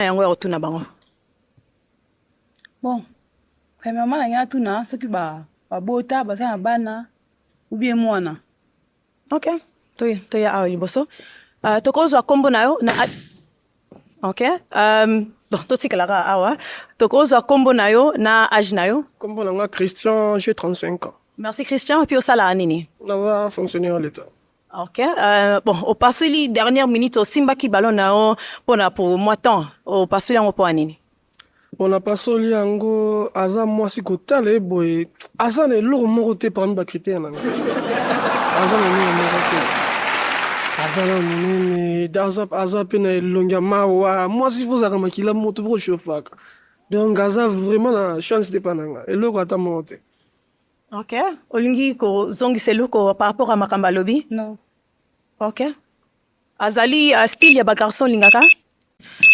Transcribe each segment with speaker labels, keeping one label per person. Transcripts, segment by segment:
Speaker 1: na yango ya kotuna bango
Speaker 2: bon premièrement na ngai atuna soki babota baza na bana ubie mwana ok
Speaker 1: toye toya awa liboso uh, tokozwa nkombo na yo na ok um, bon totikalaka awa tokozwa nkombo na yo na age na yo nkombo na nga christian
Speaker 3: je 35 ans merci christian epuis
Speaker 1: osalaka nini naza fonctionnaire ya
Speaker 3: leta Ok, euh,
Speaker 1: bon, opasuli dernière minute osimbaki ballon na yo mpona pour moi temps opasuli yango mpo ya nini? Bon,
Speaker 3: napasoli yango aza mwasi kotala ye boye aza na eloko moko te parmi bakritere na ngai aza na eloko moko te aza na monene da- aza, aza mpe na elongi ya mawa mwasi mpo ozalaka makila moto mpo oshofaka donc aza vraiment na chance te mpa na ngai eloko ata moko te Ok.
Speaker 1: Olingi kozongisa eloko par rapport à makambo alobi? Non.
Speaker 2: Ok.
Speaker 1: Azali uh, style ya ba garçon olingaka?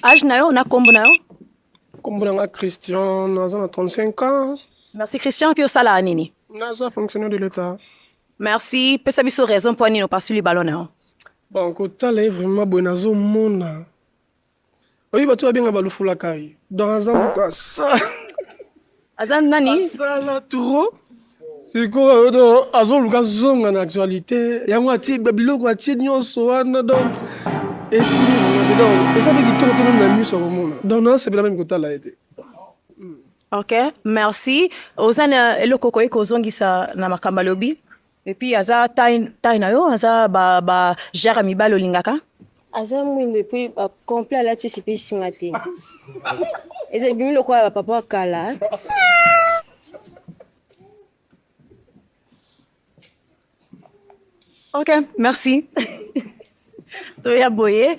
Speaker 1: Age na yo na kombo na yo? Kombo na nga
Speaker 3: Christian, naza na 35 ans. Merci Christian, mpe
Speaker 1: osalaka nini? Naza fonctionnaire de
Speaker 3: l'État. Merci,
Speaker 1: pesa biso raison mpo nini opasuli ballon na yo. Bon, kotala
Speaker 3: ye vraiment boye nazomona oyo bato babenga balufula kai donc aza moto asala aza
Speaker 1: nani asala trop
Speaker 3: sikoyo do azoluka zonga na actualité yango atie biloko atie nyonso wana donc eza mpe kitoko to nani na miso akomona donc nasepela meme kotala ye te
Speaker 1: ok merci oza na eloko okoki kozongisa na makambo alobi epuis aza tai na yo aza bajare ya mibale olingaka aza mwindo
Speaker 4: epuis complet alatisi mpe esinga te eza ebimi lokola bapapa ya kala
Speaker 1: ok merci toya boye